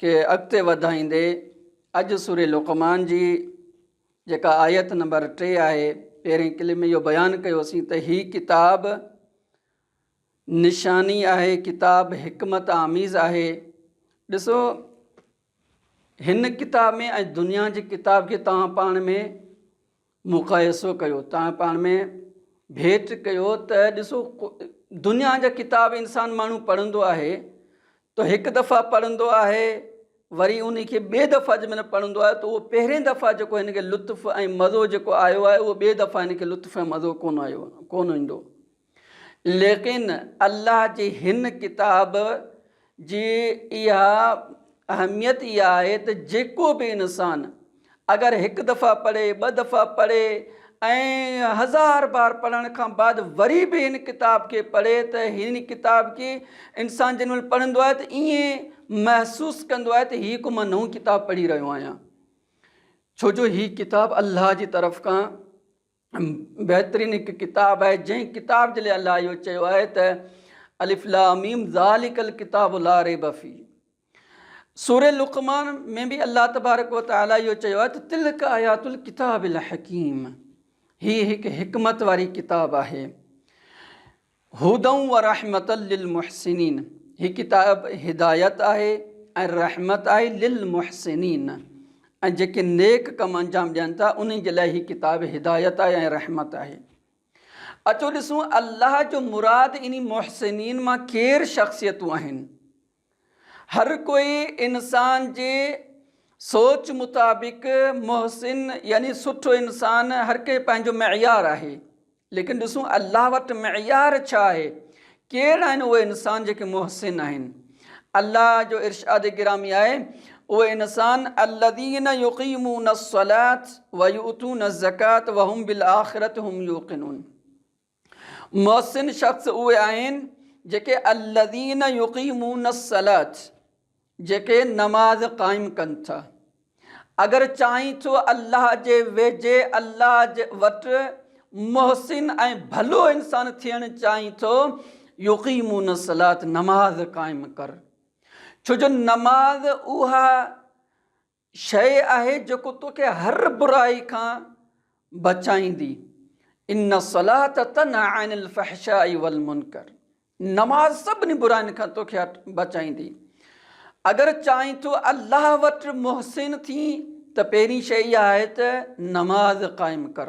کي اڳتي وڌائيندي اڄ سورة لقمان جي جيڪا آيت نمبر ٽي آهي پهرين ڪلپ ۾ اهو بيان ڪيوسين ته هي ڪتاب نشاني آهي ڪتاب حڪمت آميز آهي ڏسو هن ڪتاب ۾ ۽ دنيا جي ڪتاب کي توهان پاڻ ۾ مقايسو ڪيو توهان پاڻ ۾ ڀيٽ ڪيو ته ڏسو دنيا جا ڪتاب انسان ماڻهو پڙهندو آهي ته هڪ دفعا پڙهندو آهي وري ان کي ٻي دفعا جي مهل پڙهندو آهي ته اهو پهرين دفعا جيڪو هن کي لطف ۽ مزو جيڪو آيو آهي اهو ٻي دفعا هن کي لطف ۽ مزو ڪونه آيو ڪونه ايندو ليڪن الله جي هن ڪتاب جي اها اهميت ئي آهي ته جيڪو به انسان اگر هڪ دفعا پڙهي، ٻه دفعا پڙهي ۽ هزار بار پڙهڻ کان بعد وري به هن ڪتاب کي پڙهي ته هن ڪتاب کي انسان جنهن مهل پڙهندو آهي ته ائين محسوس ڪندو آهي ته هي هڪ مان نئون ڪتاب پڙهي رهيو آهيان ڇو جو هي ڪتاب الله جي طرف کان بهترين هڪ ڪتاب آهي جنهن ڪتاب جي لاء الله اهو چيو آهي ته الف لام ميم ذالڪ الڪتاب لا ريب في سورة لقمان ۾ به الله تبارڪ وتعالي اهو چيو آهي ته تلڪ آيات الڪتاب الحڪيم هي هڪ حڪمت واري ڪتاب آهي هدًا ورحمة للمحسنين، هي ڪتاب هدايت آهي ۽ رحمت آهي للمحسنين ۽ جيڪي نيڪ ڪم انجام ڏين ٿا انهن جي لاء هي ڪتاب هدايت آهي ۽ رحمت آهي. اچو ڏسون الله جو مراد انهي محسنين مان ڪير شخصيتون آهن هر ڪوئي انسان جي سوچ مطابق محسن يعني سٺو انسان هر ڪنهن پنهنجو معيار آهي ليڪن ڏسون الله وٽ معيار ڇا آهي ڪير آهن اهي انسان جيڪي محسن آهن الله جو ارشاد گرامي آهي اهي انسان الذين يقيمون الصلات ويؤتون الزڪات وهم بالآخرة هم يوقنون محسن شخص اهي آهن جيڪي الذين يقيمون الصلاة جيڪي نماز قائم ڪن ٿا. اگر چاهين ٿو الله جي ويجهي الله جي وٽ محسن ۽ ڀلو انسان ٿيڻ چاهين ٿو يقيمون الصلاة نماز قائم ڪر ڇو جو نماز اها شيء آهي جيڪو توکي هر برائي کان بچائيندي، ان الصلاة تنهي عن الفحشاء والمنڪر، نماز سڀني برائين کان توکي بچائيندي. اگر چاهين ٿو الله وٽ محسن ٿين ته پهرين شيء اها آهي ته نماز قائم ڪر.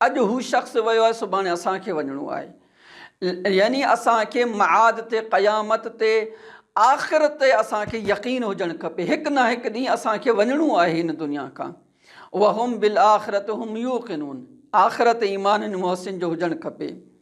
اڄ هو شخص ويو آهي سڀاڻي اسان کي وڃڻو آهي يعني اسان کي معاد تي قيامت تي آخرت تي اسان کي يقين هجڻ کپي هڪ نه هڪ ڏينهن اسان کي وڃڻو آهي هن دنيا کان وهم بالاخره هم يوقنون آخرت ايمان هن محسن جو هجڻ کپي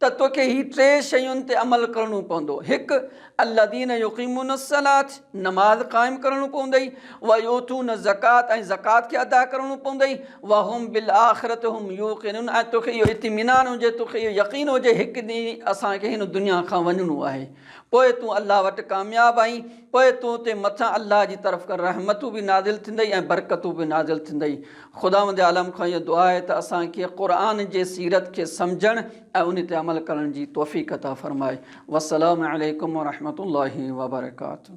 ته توکي هي ٽي شين تي عمل ڪرڻو پوندو، هڪ، الذين يقيمون الصلاة، نماز قائم ڪرڻو پوندئي، ويؤتون الزڪوة ۽ زڪوات کي ادا ڪرڻو پوندئي، وهم بالآخرة هم يوقنون ۽ توکي اهو اطمينان هجي، توکي اهو يقين هجي هڪ ڏينهن اسان کي هن دنيا کان وڃڻو آهي، پوء تون الله وٽ ڪامياب آهين، پوء تو تي مٿان الله جي طرف کان رحمتون به نازل ٿيندئي ۽ برڪتون به نازل ٿيندئي، خداوند عالم کان اها دعا آهي ته اسان کي قرآن جي سيرت کي سمجهڻ ۽ ان تي عمل ڪرڻ جي توفيق عطا فرمائي. والسلام عليڪم ورحمة الله وبرڪاته.